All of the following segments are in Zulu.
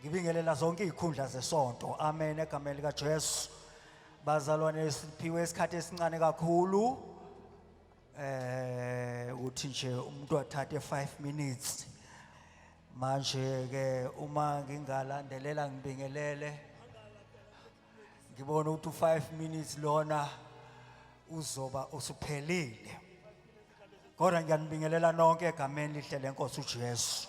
Ngibingelela zonke izikhundla zesonto. Amen egameni lika Jesu. Bazalwane siphiwe isikhathi esincane kakhulu. Eh uthi nje umuntu athathe 5 minutes. Manje ke uma ngingalandelela ngibingelele ngibona ukuthi u5 minutes lona uzoba usuphelile. Kodwa ngiyanibingelela nonke egameni lihle lenkosi uJesu.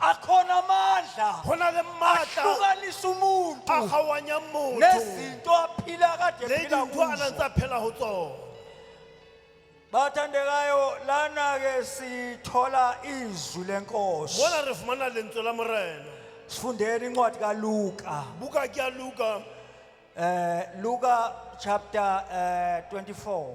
akhona amandla Go na le maatla ahlukanisa umuntu a gawanyang motho nezinto aphila kade le ephila dintho a nang kuzo tsa phela go tsone bathandekayo lana-ke sithola izwi lenkosi mona re fumana lentswe la morena sifundeni incwadi kaluka buka ke ya luka um luka chapter um 24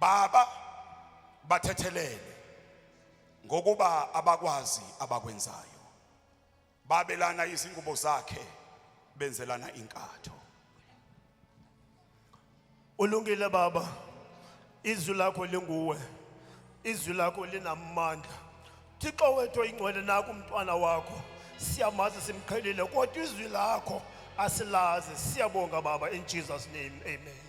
Baba bathethelele ngokuba abakwazi abakwenzayo. Babelana izingubo zakhe benzelana inkatho. Ulungile baba. Izwi lakho linguwe. Izwi lakho linamandla. Thixo wethu oyingcwele naku umntwana wakho. Siyamazi simqhelile kodwa izwi lakho asilazi. Siyabonga baba in Jesus name. Amen.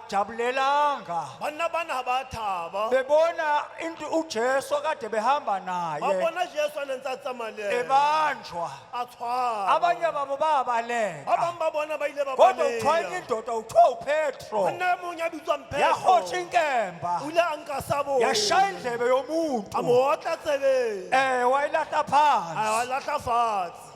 jabulelanga banna bana ga ba thaba bebona into uJesu akade behamba ba naye bona jesu a nentse a tsamaya le ena ebanjwa a tshwara abanye babo ba ba babaleka bangwe ba bona ba ile ba kodwa uthiwa enye baleya indoda uthiwa upetro monna e mongwe a bitswang petro yahotsha inkemba o ile a nka sabo yashaya indlebe a mo yomuntu otla tsebeng um wayilahla a phansi wa latlha fatshe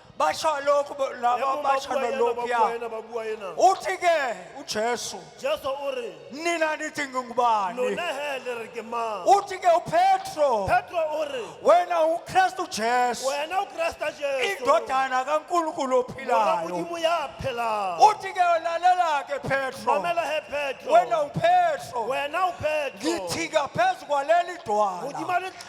basho lokhu bo- laba Yebo, basho babuwa yena, babuwa nolokuya yena, babuwa yena. uthi ke ujesu jesu o re nina nithi ngingubani lona he le re ke mang uthi ke upetro petro o re wena ukristu jesu wena ukresta jesu indodana kankulunkulu Mora ophilayo modimo ya phelang uthi ke lalela ke petro mamela he petro wena upetro wena upetro ngithika phezu kwaleli dwala modimo a le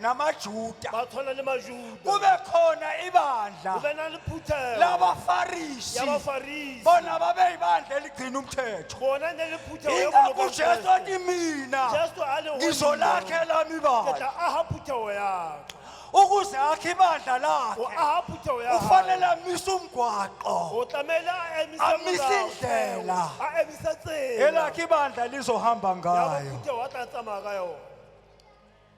namajuda ba tshwana le majuda kube khona go ibandla be na le phuthego labafarisi ya bafarisi bona babeyibandla eligcina umthetho bona ne le phuthego ya ingakho boloka ujesu Kriste. ati mina jesu a le go nna, ngizolakhela ke mibandla tla aha phuthego ya ka. ukuze akhe ibandla go lakhe aha phuthego ya ufanele gae. amise umgwaqo o tlamehile a emise Amise molao fela. indlela. a emise tsela elakhe ibandla lizohamba ya ngayo bophuthego a tla tsamaya ka yona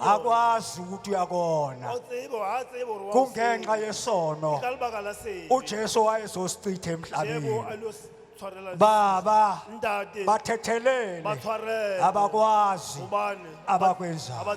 akwazi ukuthi uyakona kungenxa yesono uJesu wayezosichitha emhlabeni baba bathethelele abakwazi abakwenzayo